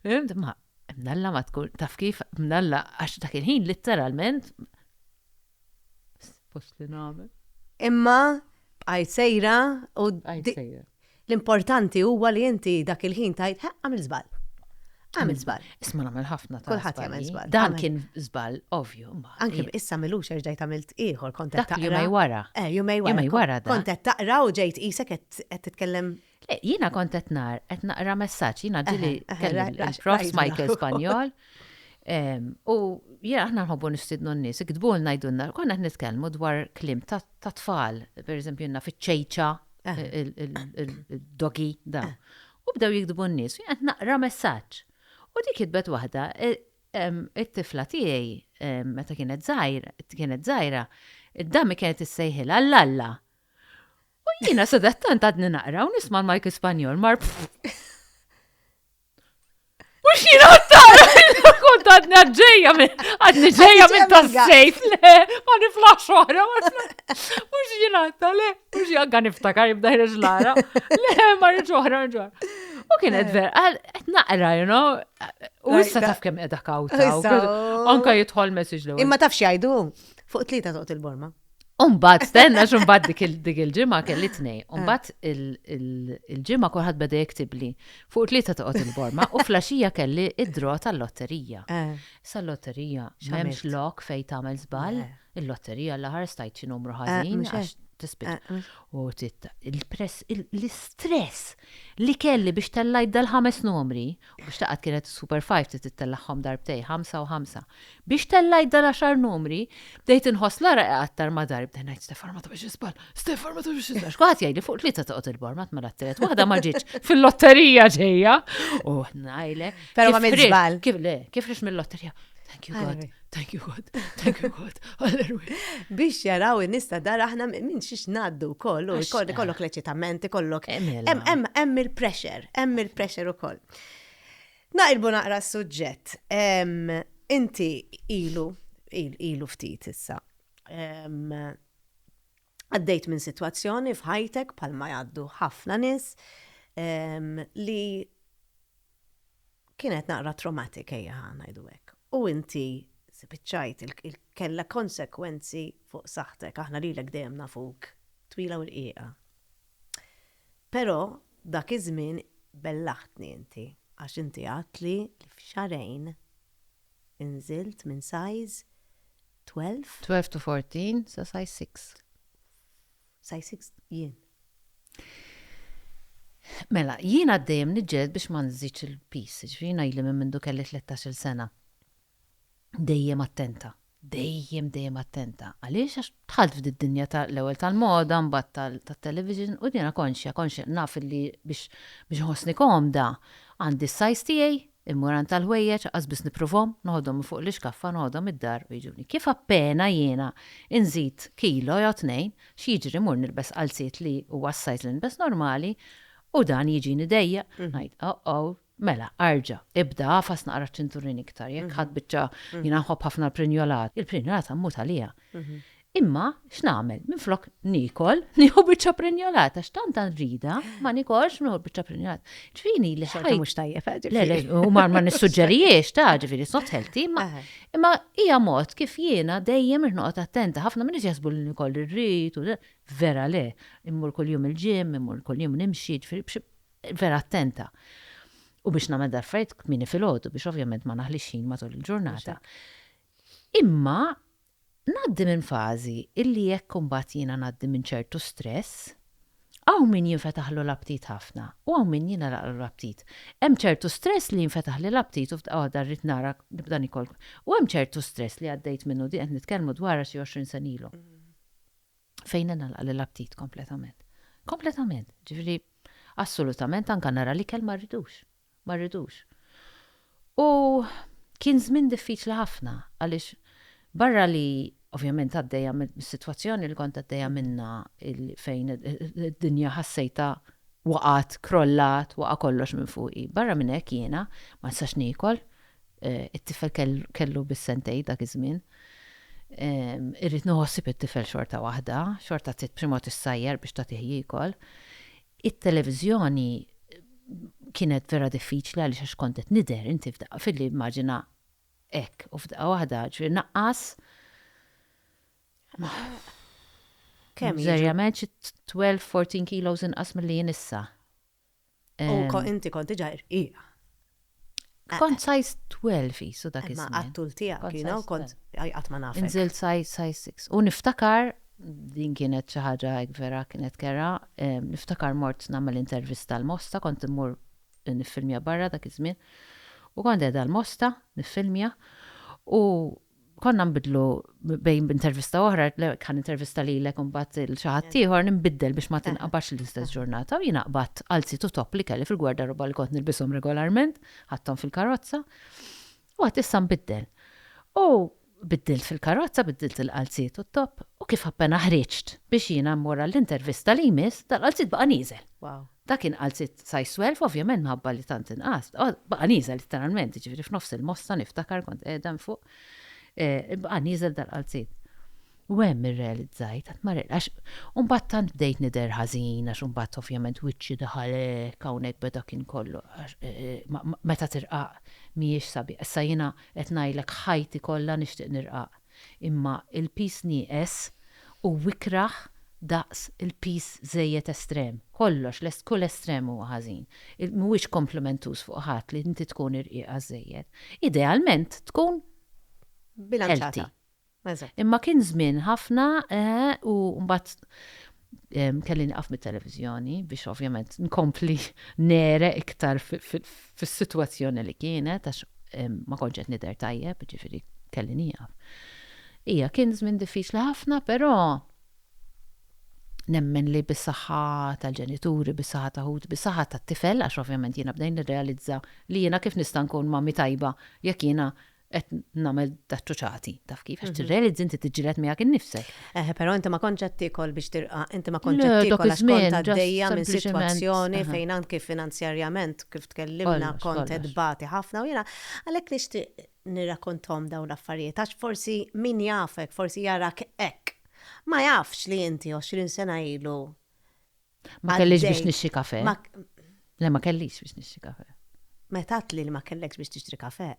Fimt? Ma mdalla ma tkun taf kif mdalla għax dak il-ħin litteralment post li nagħmel. Imma bqajt sejra u Għajt di- sejra. L-importanti huwa li inti dak il-ħin tgħid, ħa, għamilt żball. Għamilt żball. Isma' nagħmel ħafna ta' Kulħadd jagħmel żbalji. żball. Dan Għamilt- kien żball ovvju. ma- Anki i- issa milux erġajt għamilt ieħor kont qed Dak taqra. jumej wara. Eh, jumej wara. Jumej wara dan. Kont qed taqra u ġejt qisek qed qed titkellem Le, jiena kont qed nar, qed naqra messaġġ, jiena ġili Eħe, eħe, kelli ra- ra- il-prof rajt Michael naħu. Spanjol. em, U jiena aħna nħobbu nistidnu n-nies, iktbulna jdunna, konna qed nitkellmu dwar klim ta' ta' tfal, per eżempju jenna fiċ-ċejċa, il-dogi, da. U bdew jikdbu n-nies, u jgħat naqra messaġġ. U dik jitbet waħda, e, it-tifla tiegħi meta kienet zaħir, kienet zaħira, id-dami kienet issejħilha l-alla. U jiena sadattant għadni naqra u nisma' l-Mike Spanjol mar Mux jina għattara, kont għadna ġeja minn, għadni ġeja minn ta' sejf, le, għani flax oħra, mux jina għattara, le, mux jina għan iftakar jibda ħreġ lara, le, marri ġoħra, ġoħra. U kien għedver, eh. għed naqra, you know, u issa taf kem edha kawta, anka jitħol message l Imma taf xajdu, fuq tlita toqt il-borma. Umbat, stenna xumbat dik il-ġimma kelli tnej. Eh. Umbat il-ġimma kolħat beda jektibli. Fuq tlieta toqgħod il-borma u flaxija kelli id-dro tal-lotterija. Eh. Sal-lotterija, xemx lok fej tagħmel żball, eh. il-lotterija l-aħar stajt xi numru ħażin għax tispit. U titta, il-press, l-istress li kelli biex tellajt dal-ħames numri U biex taqgħad kienet is-Super Five trid ittellagħhom darbtejn, ħamsa u ħamsa. Biex tellajt dal-għaxar numri, bdejt inħoss l-għaraq iqattar ma dar, bdejt ngħid Stefan ma tagħmilx iżball, Stefan ma tagħmilx iżball, għax kulħadd jgħidli fuq tlieta toqgħod il-bor, ma tmela t-tielet waħda ma ġietx fil-lotterija ġejja. U ngħidlek. Però ma mill-żball. Kif le, kif rix mill-lotterija. Thank you God. Thank you God, thank you God, alleluja. Biex jaraw in-nies ta' dar aħna minn xiex ngħaddu wkoll u kollok l-eċitament, kollok. Hemm il-pressure, hemm il-pressure ukoll. Naqilbu naqra s-suġġett. Inti ilu, ilu ftit issa. Għaddejt minn sitwazzjoni f'ħajtek bħalma jgħaddu ħafna nies li kienet naqra traumatic ejja ngħidu hekk u inti spiċċajt kellha konsegwenzi fuq saħħtek aħna lilek dejjem nafuk twila u rqiqa. Però dak iż-żmien bellaħtni inti għax inti għedtli li f'xahrejn inżilt minn size 12. 12 to 14 sa size 6. Size 6 jien. Mela, jien għaddejjem niġġeled biex ma nżidx il-pis, ġifieri ngħidli minn mindu kelli 13-il sena. Dejjem attenta, dejjem dejjem attenta. Għaliex għax dħalt f'did dinja ta' l-ewwel tal-moda, mbagħad tat-television u jiena konxja, konxja naf li biex biex nħossni komda għandi s-size tiegħi Il-muran tal-ħwejjeġ qas biss nippruvhom, noħodhom minn fuq l-ixkaffa, noħodhom id-dar u jiġuni. Kif appena jiena nżid kilo jew tnejn, x'jiġri mmur nilbes qalziet li huwa s-size li nilbes normali u dan jiġini dejjaq. Ngħid, oh-oh, mela arġa', ibda agħfas naqra ċ-ċinturin iktar, jekk ħadt biċċa, jiena nħobb ħafna l-prinjolat, il-prinjolata mmut għaliha. Imma, x'nagħmel, minflok niekol, nieħu biċċa prinjolat, għax tant għandi rida, ma nikolx, nieħu biċċa prinjolat. Ġifieri li ħajja mhux tajjeb, eh, Le, le, u ma nissuġġerijiex ta' ġifieri it's not healthy, imma hija mod kif jiena dejjem irnoqgħod attenta, ħafna minn jasbu li nikoll irrid u vera le, immur kuljum il-ġim, immur kuljum nimxi, ġifieri vera attenta. U biex nagħmel darfajt kmini fil-ħodu biex ovvjament ma naħlix ħin matul il-ġurnata. Imma ngħaddi minn fażi illi jekk imbagħad jiena ngħaddi minn ċertu stress, hawn min jinfetaħlu l-aptit ħafna u hawn min jingħalaqlu l-aptit. Hemm ċertu stress li jinfetaħli l-aptit u f'daqqa waħda rrid nara, nibda nikol. U hemm ċertu stress li għaddejt minnu, din qed nitkellmu dwarha xi għoxrin sena ilu, fejn ingħalaqli l-aptit kompletament. Kompletament. Ġifieri assolutament anke nara l-ikel ma rridux. ma rridux. U kien żmien diffiċli ħafna għaliex barra li ovvjament għaddejja mis-sitwazzjoni li kont għaddejja minnha fejn id-dinja ħassejtha waqgħet, krollat, waqa' kollox minn fuqi. Barra minn hekk jiena ma nistax niekol, it-tifel kellu biss sentejn dak iż-żmien. Irrid nieħu ħsieb it-tifel xorta waħda, xorta trid b'xi mod issajjar biex tagħtih jiekol. It-televiżjoni kienet vera diffiċli għaliex għax kont qed nidher, inti f'daqqa f'idli immaġina hekk u f'daqqa waħda ġifieri naqqas, serjament xi twelve, fourteen kilos inqas milli jien issa. U inti kont diġà irqiq. Kont size 12 qisu dak iż-żmien. Imma għat-tul tiegħek, you know, kont qatt ma nafek. Inżilt size six. U niftakar, din kienet xi ħaġa hekk vera kienet kerha, niftakar mort nagħmel intervista l-Mosta, kont immur niffilmja barra dak iż-żmien, u kont qiegħda l-Mosta niffilmja, u konna nbidlu bejn b'intervista oħra, kan intervista li l-ek unbat il-xaħat tiħor, nbiddel biex ma tinqabax l-istess ġurnata, u jina qbat għalzi tu top li kelli fil-gwarda roba li kont nilbisom regolarment, ħattom fil-karozza, u għat issa nbiddel. U biddilt fil-karozza, biddilt il-qalzi tu top, u kif appena ħriċt biex jina mmur l-intervista li jmiss, dal-qalzi baqa nizel. Dak inqal sitt size twelve, ovvjament minħabba li tant inqast, baqa' nieżel litteralment, jiġifieri f'nofs il-mossa niftakar kont qiegħda minn fuq, baqa' nieżel dal-qalzien. U hemm irrealizzajt, qatt ma għax u mbagħad tant bdejt nidher ħażin għax imbagħad ovvjament wiċċi daħal hekk hawnhekk beda kien kollu għax meta tirqaq mhijiex sabiħa. Issa jiena qed ngħidlek ħajti kollha nixtieq nirqaq. Imma il-piż nieqes hu ikrah daqs il-piż żejjed estrem. Kollox, kull estrem huwa ħażin. Mhuwiex komplimentuż fuq ħadd li inti tkun irqiqa żżejjed. Idealment tkun healthy. Imma kien żmien ħafna u mbagħad kelli nqaf mit-televiżjoni biex ovvjament nkompli nere iktar fis-sitwazzjoni li kienet għax ma kontx qed nidher tajjeb, ġifieri kelli nieqaf. Ija, kien żmien diffiċli ħafna, però nemmen li bis-saħħa tal-ġenituri, bis-saħħa ta' ħut, bis-saħħa tat-tifel, għax ovvjament jiena bdejt nirrealizza li jiena kif nista' nkun mami tajba jekk jiena qed nagħmel daċċuċati, taf kif, għax tirrealizzi inti tiġġieled miegħek innifsek. Eh, però inti ma kontx qed tiekol biex tirqa, inti ma kontx qed tiekol għax kont għaddejja minn sitwazzjoni fejn anki finanzjarjament kif tkellimna kont qed bati ħafna u jiena għalhekk nixtieq nirrakontom dawn l-affarijiet għax forsi min jafek, forsi jarak hekk. Ma jafx li inti 20 sena ilu Ma kellix biex nixxi kafe. Le, ma kellix biex nixxi kafe. Meta li ma kellekx biex tixtri kafe.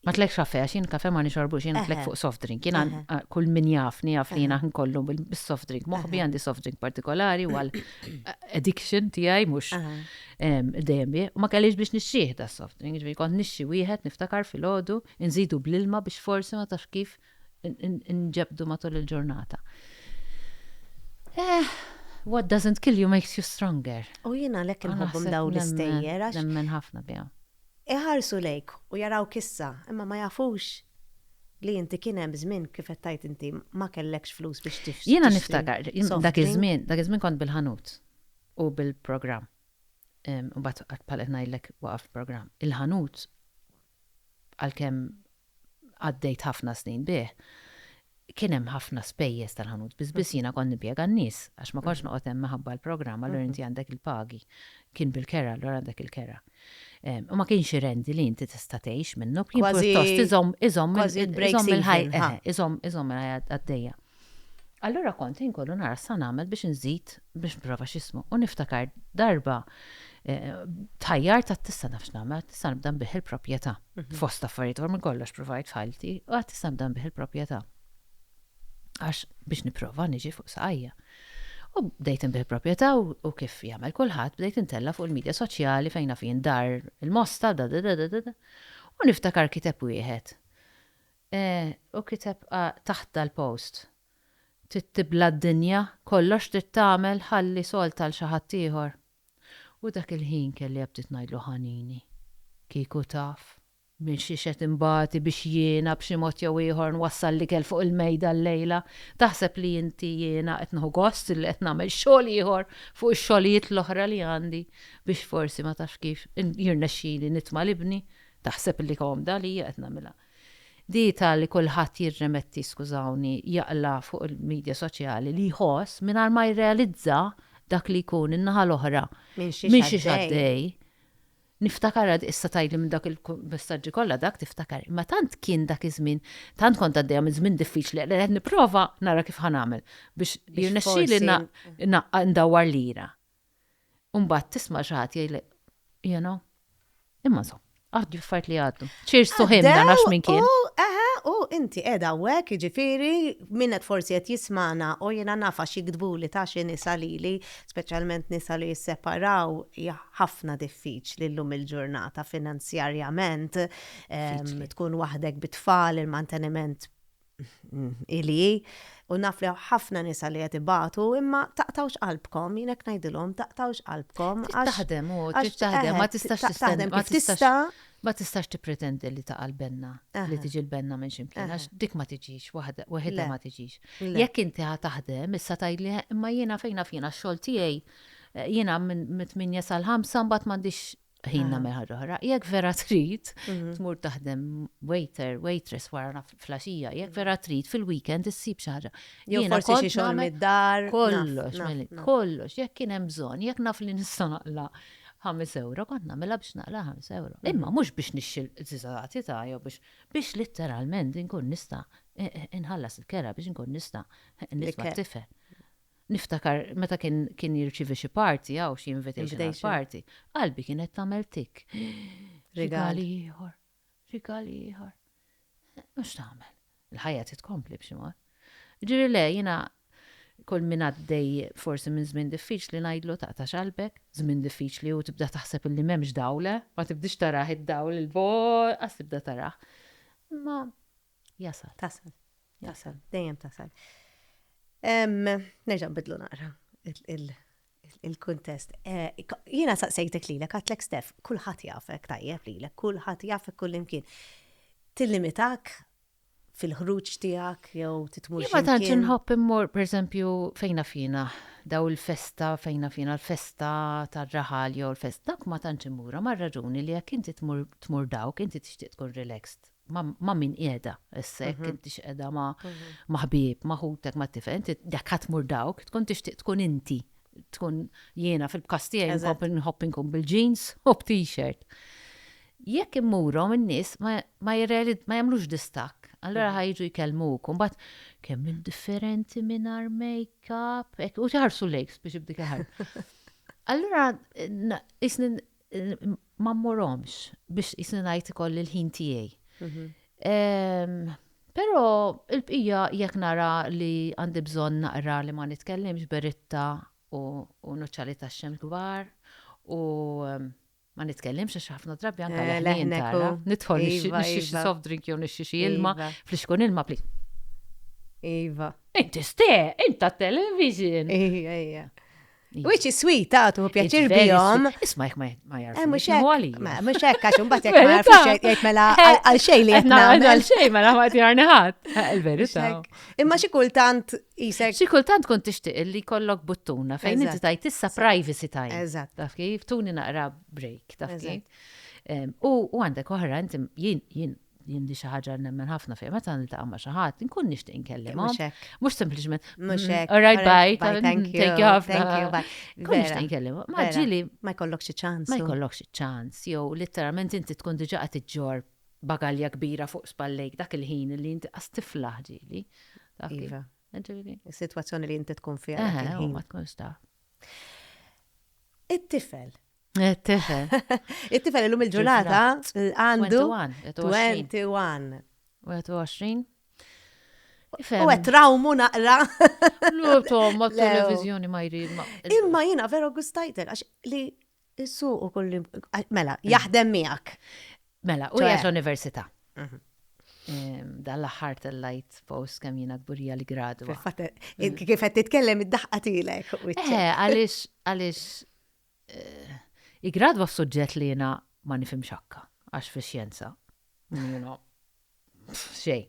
Ma tlekx kafe, għax jien kafe ma nixorbu, jien tlek fuq soft drink. Jien kull min jafni, jafni jien għan kollu bil-soft drink. Moħbi għandi soft drink partikolari għal addiction tijaj, mux dejjem bie. Ma kellix biex nixxieħ da soft drink, ġvi kont nixxi wieħed niftakar fil-ħodu, nżidu bl-ilma biex forsi ma tafx kif inġebdu matul il-ġurnata. Eh, what doesn't kill you makes you stronger. U jiena għalhekk inħobbhom dawn l-istejjer għax. Nemmen ħafna bihom. Iħarsu lejk u jarawk issa, imma ma jafux li inti kien hemm żmien kif qed tgħid inti ma kellekx flus biex tixtri. Jiena niftakar, dak iż-żmien, dak iż-żmien kont bil-ħanut u bil-programm. U bad bħal qed ngħidlek waqaf il-programm. Il-ħanut għalkemm għaddejt ħafna snin bih, kien hemm ħafna spejjeż tal-ħanut, biss biss jiena kont nimpjega n-nies, għax ma kontx noqgħod hemm minħabba l-programm, allura inti għandek il-pagi. Kien bil-kera, allura għandek il-kera. U ma kienx irendi li inti tista' tgħix minnu, kien pjuttost iżomm iżomm il-ħajja għaddejja. Allura kont inkollu nara sa nagħmel biex inżid biex nipprova x'ismu u niftakar darba eh, tħajjar ta' tista' nafx nagħmel, tista' nibda nbih il-proprjetà. Mhm. Fost affarijiet għor minn kollox provajt f'ħajti, u għad tista' nibda nbih il-proprjetà. Għax biex nipprova niġi fuq saqajja. U bdejt nbih il-proprjetà u kif jagħmel kulħadd bdejt intella fuq il-medja soċjali fejn naf dar il-mosta da da da da da. U niftakar kiteb wieħed Hu kiteb taħt dal-post, Trid tibla' d-dinja, kollox trid tagħmel ħalli salt għal xi ħaddieħor. U dak il-ħin kelli bdiet ngħidlu ħanini. Kieku taf minn xiex qed inbati biex jiena b'xi mod jew ieħor nwassal l-ikel fuq il-mejda llejla, taħseb li inti jiena qed nieħu gost li qed nagħmel xogħol ieħor fuq ix-xogħlijiet l-oħra li għandi biex forsi ma tafx kif jirnexxili nitma' l-ibni, taħseb li komda għalija qed nagħmilha. Data li kulħadd jirremetti, skużawni, jaqla' fuq il-midja soċjali li jħoss mingħajr ma jirrealizza dak li jkun in-naħa l-oħra minn xiex għaddej. Niftakar għad issa tgħidli minn dak il-messaġġi kollha dak tiftakar, imma tant kien dak iż-żmien, tant kont għaddejja minn żmien diffiċli li qed nipprova nara kif ħa nagħmel biex jirnexxieli ndawwar lira. U mbagħad tisma' xi ħadd jgħidlek, you know, imma so, għaddu affarijiet li għaddu. Cheers to him dan għax minn kien. Eħe, u inti qiegħda hawnhekk, jiġifieri min qed forsi qed jismana u jiena nafa xi jiktbuli ta' xi nisa lili, speċjalment nisa li jisseparaw hija ħafna diffiċli llum il-ġurnata finanzjarjament tkun waħdek bit-tfal, il-manteniment Hi li hi, u naf li hawn ħafna nisa li qed ibatu, imma taqtgħux qalbkom, jien hekk ngħidilhom, taqtgħux qalbkom għax. Taħdem u taħdem, ma tistax tistaħdem kif tista'. Ma tistax tippretendi li taqa' l-benna, li tiġi l-benna minn ximkien, għax dik ma tiġix, waħedha ma tiġix. Jekk inti ħa taħdem, issa tgħidli imma jiena fejna fina x-xogħol tiegħi, jiena mit-8 sal-5 mbagħad m'għandix ħin nagħmel ħaġa oħra. Jekk vera trid, mhm. tmur taħdem waiter, waitress wara flaxija, jekk vera mhm. trid fil-weekend issib xi ħaġa. Jew forsi xi xogħol mid-dar. Kollox, kollox, jekk kien hemm bżonn, jekk naf li nista' naqla 5 euro, kont nagħmilha biex naqla 5 euro. Mhm. Imma mhux biex nixxil żizati ta' jew biex biex litteralment inkun nista' inħallas il-kera biex inkun nista' nisma' tifel. Niftakar meta kien kien jirċievi xi party hawn, xi invitation għal party, qalbi kienet tagħmel tikk. Rigal ieħor, rigal ieħor. U x'tagħmel? Il-ħajja trid tkompli b'xi mod. Jiġifieri le, jiena kull min għaddej forsi minn żmien diffiċli ngħidlu taqtax qalbek, żmien diffiċli u tibda taħseb illi m'hemmx dawl, eh? Ma tibdiex tarah id-dawl il-bogħod, qas tibda tarah. Imma Jasal. Tasal. Jasal. Dejjem tasal. Nerġa' bidlu naqra il-kuntest. Eh, jiena saqsejtek lilek għatlek Stef, kulħadd jafek tajjeb lilek, kulħadd jafek kullimkien. Tillimitak fil-ħruġ tiegħek jew titmur. Ma tantx inħobb immur pereżempju fejna fina daw il-festa fejna fina l-festa tar-raħal jew l-festa dak ma tantx immura mar-raġuni li jekk inti tmur dawk inti tixtieq tkun relaxed. ma' min qiegħda essek, inti x'qiegħda ma' ħbieb, ma' ħutek, ma' tifel, inti jekk ħadd mur dawk, tkun tixtieq tkun inti, tkun jiena fil-każ tiegħi nħobb inkun bil-jeans u b'T-shirt. Jekk immurhom in-nies ma jagħmlux distakk, allura ħa jiġu jkellmuk u mbagħad kemm int differenti mingħajr makeup, u jħarsu lejk spiċċa b'dik il-ħarsa. Allura ma mmurhomx biex qisni ngħid ikolli l-ħin tiegħi. Però il-bqija jekk nara li għandi bżonn naqra li ma nitkellimx beritta u nuċċali tax-xemx kbar u ma nitkellimx għax ħafna drabi anke eh, leħnin tara. Nidħol iva, nixxi iva. soft drink jew nixxi xi ilma, iva. flixkun ilma pli. Iva. Inti ste, inta television. Ija, ija. Which is sweet, ta' tuħu pjaċir bihom. Isma jek ma jarfu. Eh, mux hekk. Mux hekk, għax unbat jek ma jarfu xejk jek mela għal xej li jtna. Għal xej mela ma jtjarni ħat. Eh, Il-verita. Imma xi kultant jisek. Xi kultant kont tixtieq li kollok buttuna fejn inti tajt issa privacy time. Eżatt. Taf kif, tuni naqra break, taf kif. U għandek oħra, inti jien, jien, jien di xi ħaġa nemmen ħafna fejn meta niltaqa' ma' xi ħadd, inkun nixtieq inkellimhom. Mhux sempliċement. Mhux mm, hekk. All right, bye. Thank you. Thank you ħafna. Nkun nixtieq inkellimhom. Ma ġili. Ma jkollokx ċans. Ma jkollokx ċans. Jew litteralment inti tkun diġà qed iġġor bagalja kbira fuq spallejk dak il-ħin li inti qas tiflaħ ġili. Iva. Is-sitwazzjoni li inti tkun fiha. Ma tkunx ta'. It-tifel It-tifel. It-tifel illum il-ġurnata għandu 21. 21. U għet trawmu naqra. Lu tom, ma televizjoni ma jrid. Imma jina vero gustajtek, għax li issu u kulli, mela, mm. jaħdem miegħek. Mela, u jgħet l-università. Mhm. Dan l-ħar tal-lajt post kem jina gburija li gradu. Kifet titkellem id-daħqa tilek. Eh, għalix, għalix, Iggradwa f'suġġett li jiena ma nifhimx ħakka, għax fix-xjenza, you know, xejn.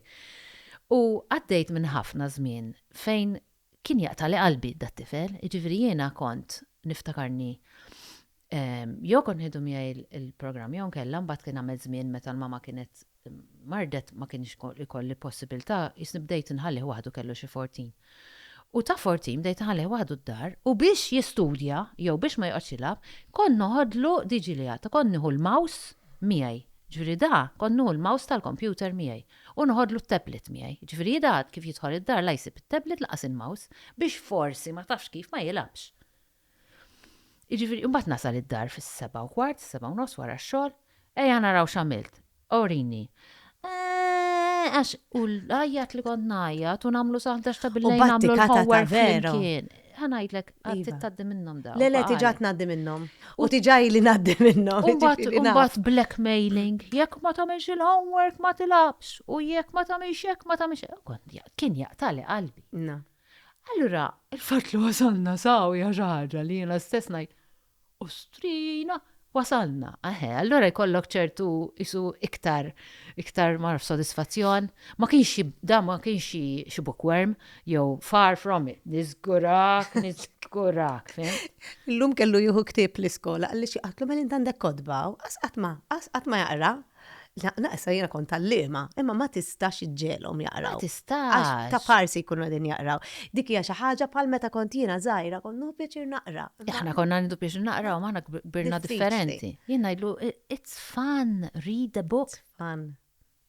U għaddejt minn ħafna żmien fejn kien jaqtagħli qalbi dat-tifel, jiġifieri jiena kont niftakarni jew kont nieħdu miegħi l-programm jew inkella mbagħad kien għamel żmien meta l-mama kienet mardet ma kienx ikolli possibiltà, jisni bdejt inħallih waħdu kellu xi fortin. U ta' fortin bdejt inħallih waħdu d-dar u biex jistudja jew biex ma joqgħodx jilgħab kont noħodlu DG Liat u kont nieħu l-mouse miegħi. Ġifieri da kont nieħu l-mouse tal-kompjuter miegħi u noħodlu t-tablet miegħi. Ġifieri hi da kif jidħol id-dar la jsib it-tablet lanqas il-mouse biex forsi ma tafx kif ma jilgħabx. Jiġifieri imbagħad nasal id-dar fis-sebgħa u kwart, is-sebgħa u nofs wara x-xogħol, ejja naraw x'għamilt, urini. Eeeh, għax u l-għajjat li kont ngħajjat u nagħmlu sa ħdax ta' billejl nagħmlu l-homework flimkien. Ħa ngħidlek, għad iva. tgħaddi minnhom dawn. Le le tiġa tgħaddi minnhom. U tiġa li ngħaddi minnhom. Imbagħad blackmailing, jekk ma tagħmilx il-homework ma tilabx u jekk ma tagħmilx jekk ma tagħmilx. Kien jaqtali qalbi. Allura, il-fatt li wasalna saw hija xi ħaġa li jiena stess ngħid, Ostrina, wasalna! Eħe, allura jkollok ċertu qisu iktar, iktar ma nafx sodisfazzjon. Ma kienx xi, dan ma kienx xi, xi bookworm, jew far from it, niżgurak, niżgurak, fimt? Illum kellu jieħu ktieb l-iskola, qalli xi qatt, mela int għandek kotba, qas qatt ma, qas qatt ma jaqra, La, issa jiena kont tallima, imma ma tistax iġġelhom jaqraw. Ma tistax. Għax ta' parsi jkunu qegħdin jaqraw. Dik hija xi ħaġa bħal meta kont jiena żgħira kont nieħu pjaċir naqra. Aħna konna nieħdu pjaċir naqraw, ma aħna kbirna differenti. Jien ngħidlu, it's fun, read a book. It's fun.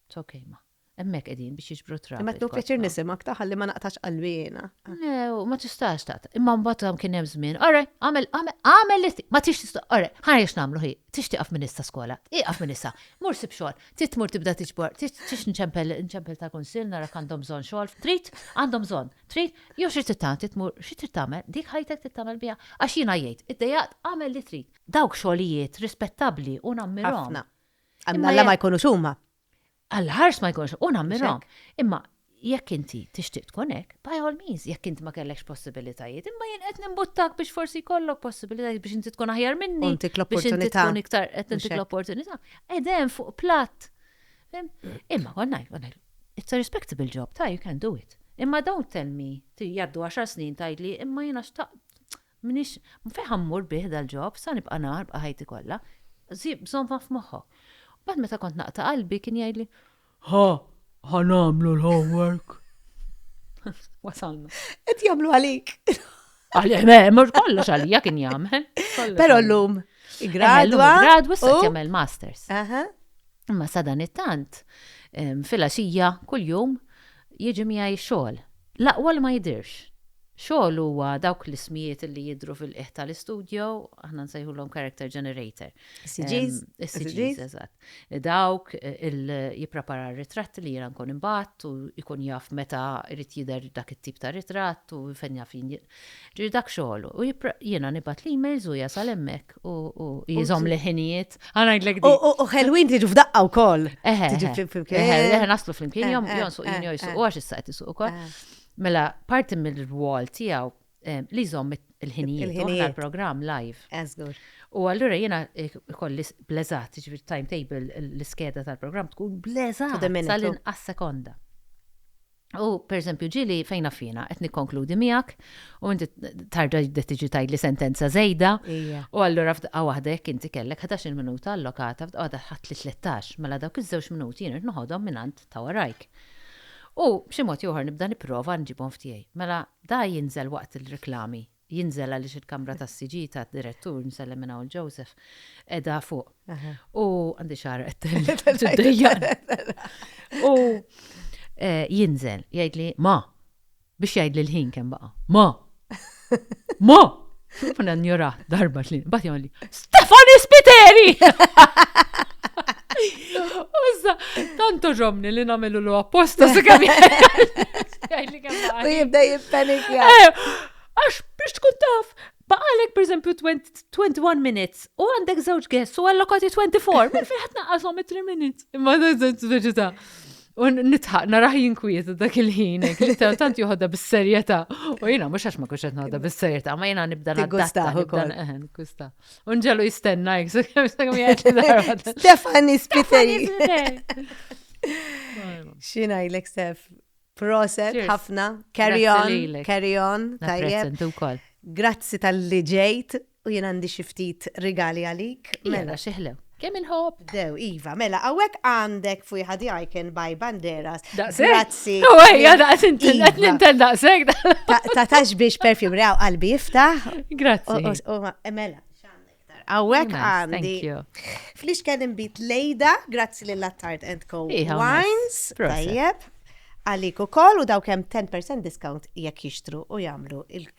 It's okay, ma. Hemmhekk qegħdin biex jiġbru trab. Imma qed nieħu pjaċir nisimgħek ta' ħalli ma naqtax qalbi jiena. Le, ma tistax taqta'. Imma mbagħad kien hemm żmien, ora, għamel għamel li ma tix tista' ora, ħa jiex nagħmlu hi, tix tieqaf minn issa skola, ieqaf minn issa, mur sib xogħol, trid tmur tibda tiġbor, tix nċempel nċempel ta' kunsill narak għandhom bżonn xogħol, trid għandhom bżonn, trid jew xi trid tagħti tmur xi trid tagħmel, dik ħajtek trid tagħmel biha għax jiena jgħid, iddejjaqt għamel li trid. Dawk xogħlijiet rispettabbli u nammirhom. Ħafna. Alla ma jkunux huma. Għall-ħars ma jkunx u nammirhom. Imma jekk inti tixtieq tkun hekk, by all means, jekk int ma kellekx possibilitajiet, imma jien qed nimbuttak biex forsi jkollok possibilitajiet biex inti tkun aħjar minni. Intik l-opportunità. Tkun iktar qed intik l-opportunità. Edem fuq platt. Imma kont ngħid, kont ngħid, it's a respectable job, ta' you can do it. Imma don't tell me, jgħaddu 10 snin tgħidli, imma jiena xtaqt M'iniex, fejn ħa mmur bih dal-ġob, sa nibqa' ngħar bqa' ħajti kollha? Żommha f'moħħok. U mbagħad meta kont naqta' qalbi kien jgħidli, Ħa, ħa nagħmlu l-homework. Wasalna. Qed jagħmlu għalik. Għalih, le, mhux kollox għalija kien jagħmel. Però llum igradwa. Gradwa se jagħmel masters. Aha. Imma sa dan it-tant, em, fil-għaxija kuljum Jiġi miegħi x-xogħol. L-aqwa li ma jidhirx. Xogħol huwa dawk l-ismijiet li jidhru fil-qiegħ tal-istudjo, aħna nsejħulhom character generator. Is-CGs? Is-CGs, eżatt. Dawk li jipprepara r-ritratti li jiena nkun inbgħatt u jkun jaf meta jrid jidher dak it-tip ta' ritratt u fejn jaf jinjidher. Ġifieri dak xogħlu. U jiena nibgħat l-emails u jasal hemmhekk u jżomm li ħinijiet. Ħa ngħidlek dik. U ħelwin tiġu f'daqqa wkoll. Eħe. Tiġu flimkien. Eħe, naslu flimkien jom jonsuq jien jew jsuq u għax issa qed isuq ukoll. Mela, parti mill-wall tiegħu li jżomm il-ħinijiet il programm live. Eżgur. U allura jiena kolli bleżat, ġifieri timetable l-iskeda tal-programm tkun bleżat. Tal-inqas sekonda. U, pereżempju, ġieli fejn naf jiena, qed nikkonkludi miegħek u inti tarġa' tibda tiġi tgħidli sentenza żejda. Ija. U allura f'daqqa waħda jekk inti kellek ħdax-il minuta allokata, f'daqqa waħda ħadtli tlettax, mela dawk iż-żewġ minuti jien irid noħodhom mingħand ta' warajk. U b'xi mod jew ieħor nibda nipprova nġibhom f'tiegħi. Mela, da jinżel waqt il-riklami. jinżel għaliex il-kamra tas-siġġijiet tad-direttur, nsellem minn hawn Joseph, qiegħda fuq. U għandi xahar qed U eh, jinżel, jgħidli ma biex jgħidli l-ħin kemm baqa. Ma! Ma! Funa njura darba li, bat jgħidli, Stefani Spiteri! Użda, tanto ġomni li namelu l apposta se kemm U jibda jippanikja. Eh, għax biex tkun taf, baqalek per esempio 21 minutes u għandek żewġ guests u allokati 24, minn fejn ħadd naqashom 3 minutes. Imma dan żewġ veġità. U nitħaq narah jinkwiet dak il-ħin, li tant joħodha bis-serjetà. U jiena mhux għax ma kunx qed noħodha bis-serjetà, ma jiena nibda nadatta ukoll. Gusta. U nġelu jistenna jek, so kemm sa kemm jgħid darba. Stefani Spiteri. Xina jlek Stef. Proset, ħafna. Carry on, carry on. Tajjeb. Grazzi tal-li ġejt. U jien għandi xi ftit rigali għalik, mela. Iva, xi ħlew. Kemm inħobb! Dew, iva, mela, hawnhekk għandek fuq ħadi icon by Banderas. Daqshekk? Grazzi. No way, ja daqs inti Iva. qed nintel daqshekk. Ta' ta' tax biex perfume rew qalbi jiftaħ. U- Grazzi. u- u ma- Mela, x'għandek tar? Hawnhekk Nice, għandi. thank you. Flix kien imbit lejda, grazzi lil Attard and Co. Iha, nice. Wines, Proset. tajjeb. Għalik u koll u daw kem 10% discount jekk jixtru u jamlu il-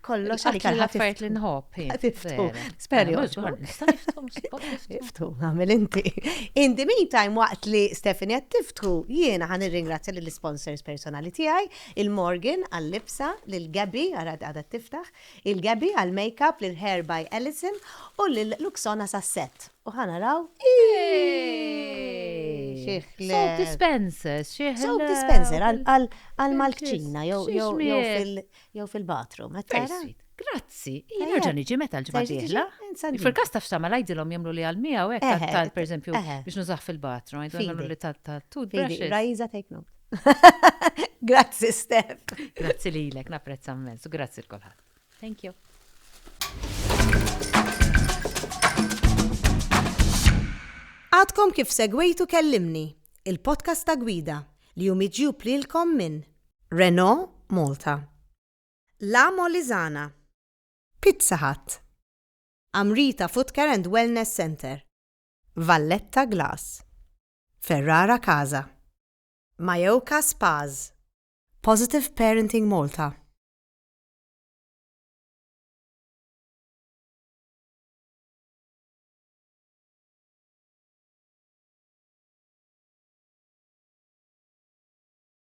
kollox għalik għal ħaffariet li nħobb. Tiftu, speri. Tiftu, għamil inti. In the meantime, waqt li Stephanie għat tiftu, jiena għan ringrazzja l-sponsors personali tijaj, il-Morgan għal-libsa, l-Gabi għarad għadha tiftaħ, il-Gabi għal-makeup, l-Hair by Ellison u l-Luxona sasset. U ħana raw. Soap dispensers, xieħ. Soap dispenser għal-malkċina, jow fil- Jew fil-batru, ma tara? Grazzi, jien nerġa' niġi meta l-ġimgħa dieħla. Fil-każ ta' fsama ngħidilhom jagħmlu li għal miegħu hekk tal pereżempju biex nużah fil-batru, ngħidilhom li tal-toothbrushes. Raiza take note. Grazzi Steph. Grazzi lilek, napprezza mmens u grazzi l kulħadd. Thank you. Għadkom kif segwejtu kellimni, il-podcast ta' gwida li jum iġjub lilkom minn Renault Malta. La Molisana. Pizza Hut. Amrita Footcare and Wellness Centre. Valletta Glass. Ferrara Casa. Mayoka Spas. Positive Parenting Malta.